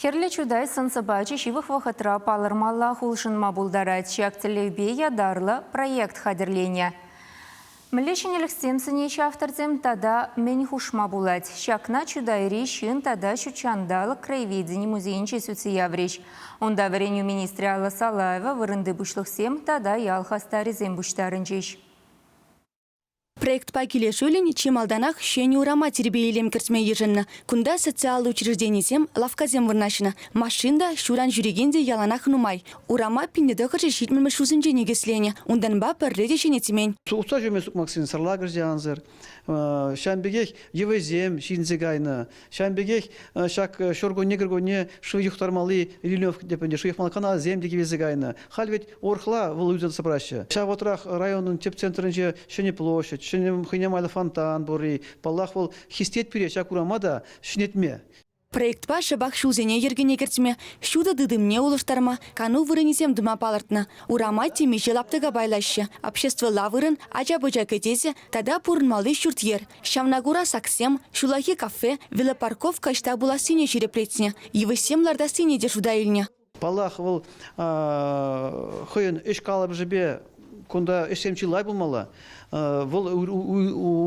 Хӗрлӗ чутай сӑн-сӑпачӗ ҫывӑх вӑхӑтра палӑрмаллах улшӑнма пултарать. Ҫак тӗллевпе ятарлӑ проект хатӗрленӗ. Мӗнле ҫӗнӗлӗхсем сӗнеҫҫӗ авторсем тата мӗн хушма пулать? Ҫакна Чутайри ҫын тата ҫутҫанталӑк краеведени музейӗнче сӳтсе яврӗҫ. Унта вӗренӳ министрӗ Алла Салаева, вырӑнти пуҫлӑхсем тата ял хастарӗсем пуҫтарӑнчӗҫ. Проектпа килӗшӳллӗн чи малтанах ҫӗнӗ урама тирпей-илем кӗртме йышӑннӑ. Кунта социаллӑ учрежденисем, лавккасем вырнаҫнӑ. Машин та, ҫуран ҫӳрекен те яланах нумай. Урама пинне тӑхӑрҫӑ ҫитмӗлмӗш ҫулсенче никӗсленӗ. Унтанпа пӗрре те ҫӗнетмен. Тухса ҫӳреме сукмаксенсӗр лакӑр те ансӑр. Ҫавӑн пекех йӑвисем ҫинсе кайнӑ. Ҫавӑн пекех ҫак ҫуркунне кӗркунне шыв юхтармалли Ильинев тӗпӗнче шыв юхмалли каналсем те кивелсе кайнӑ. Халь вӗт урӑхла вӑл юсаса пыраҫҫӗ. Ҫав вӑхӑтрах районӑн тӗп центрӗнче Ҫӗнӗ площадь, ҫӗнӗ хӑйне майлӑ фонтан пурри, паллах, вӑл хистет пире ҫак урама та ҫӗнетме. Проектпа шӑпах ҫулсене йӗркене кӗртме, ҫутӑ тытӑмне улӑштарма кану вырӑнӗсем тума палӑртнӑ. Урама темиҫе лаптӑка пайлаҫҫӗ, обществӑлла вырӑн, ача-пӑча кӗтесӗ, Тата пурӑнмалли ҫурт-йӗр. Ҫавна кура саксем, ҫуллахи кафе, велопарковка ӑҫта пулассине ҫирӗплетнӗ, йывӑҫсем лартассине те шута илнӗ. Паллах, вӑл хӑйӗн ӗҫ калӑпӑшӗпе кунта ӗҫсем чылай пулмалла. Вӑл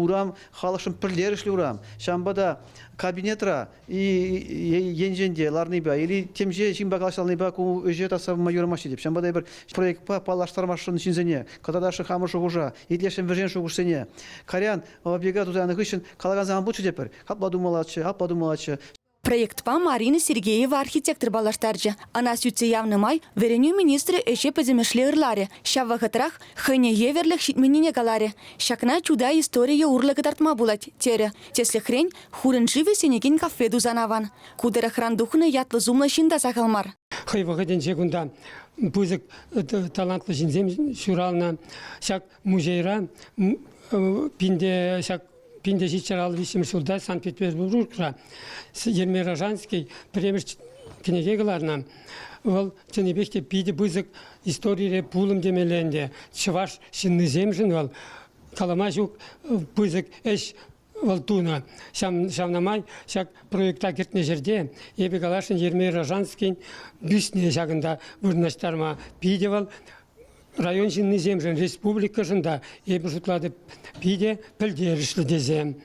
урам халӑхшӑн пӗлтерӗшлӗ урам. Ҫавӑнпа та кабинетра енчен те ларнипе или темиҫе ҫынпа калаҫалнипе ку ӗҫе таса пыма юрамаҫҫӗ теп. Ҫавӑнпа та эпир проектпа паллаштармашшӑн ҫынсене, катадашы хамӑр шухӑша, итлешӗн вӗрен шухӑшсене. Кайран оперга тутанӑ хыҫҫӑн калакан саман пулчӗ тепӗр. Апла тумаллаччӗ, апла тумаллаччӗ. Проектпа Марина Сергеева архитектор паллаштарчӗ. Ӑна сӳтсе явнӑ май вӗренӳ министрӗ ӗҫе пӗтӗмӗшле ырларӗ, ҫав вӑхӑтрах хӑйне евӗрлӗх ҫитменнине каларӗ. Ҫакна Чутай историйӗ урлӑ кӑтартма пулать, терӗ. Тӗслӗхрен, Хурӑн-ши вӗҫленекен кафе тусан аван. Ку тӑрӑхран тухнӑ ятлӑ-сумлӑ ҫын та сахал мар. Хӑй вӑхӑтӗнче кунта пысӑк талантлӑ ҫынсем ҫуралнӑ. Ҫак музейра пинте ҫак пинте ҫиччӗр ал виҫҫӗмӗш ҫулта Санкт-Петербургра Ермей Рожанский пӗрремӗш кӗнеке кӑларнӑ. Вӑл чӑннипех те питӗ пысӑк историре пулӑм темелле ӗнтӗ. Чӑваш ҫыннисемшӗн вӑл калама ҫук пысӑк ӗҫ вӑл тунӑ. Ҫавна май ҫак проекта кӗтнӗ ҫӗрте эпӗ каласшӑн Ермей Рожанскин бюстне ҫакӑнта вырнаҫтарма питӗ вӑл район ҫыннисемшӗн, республикӑшӑн та, эпӗ шутлатӑп, питӗ пӗлтерӗшлӗ тесе.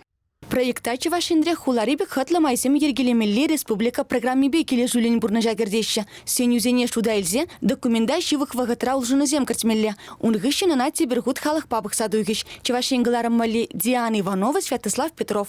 Проекта Чӑваш Енре хулари пек хӑтлӑ майсем йӗркелемелли республика программипе килӗшӳллӗн пурнӑҫа кӗртеҫҫӗ. Сӗнӳсене шута илсе документа ҫывӑх вӑхӑтра улшӑнусем кӗртмелле. Ун хыҫҫӑн ӑна тепӗр хут халӑхпа пӑхса тухӗҫ Чӑваш Ен кӑларӑм валли Диана Иванова, Святослав Петров.